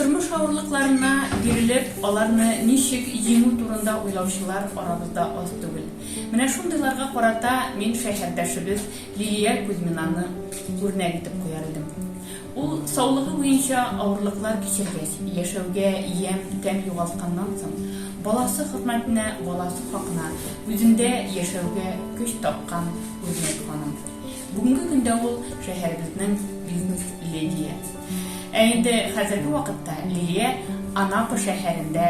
Тормыш авырлыкларына бирелеп, аларны ничек җиңү турында уйлаучылар арабызда аз түгел. Менә шундыйларга карата мин шәһәрдәшебез Лилия Кузьминаны үрнәк итеп куяр идем. Ул саулыгы буенча авырлыклар кичергәч, яшәүгә ямь, тәм югалтканнан соң, баласы хөрмәтенә, баласы хакына үзендә яшәүгә көч тапкан үрнәк ханым. Бүгенге көндә ул, шәһәребезнең бизнес-ледие. Ә инде хәзерге вакытта Лилия Анапа шәһәрендә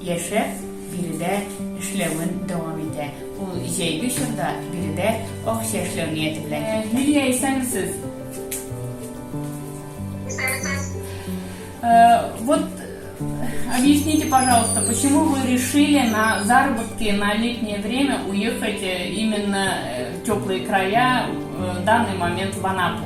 яшәп, биредә эшләвен дәвам итә. Ул җәйге чорда биредә акча эшләү нияте белән киткән. Лилия, исәнмесез! Исәнмесез! Вот объясните, пожалуйста, почему вы решили на заработки на летнее время уехать именно в теплые края, в данный момент в Анапу?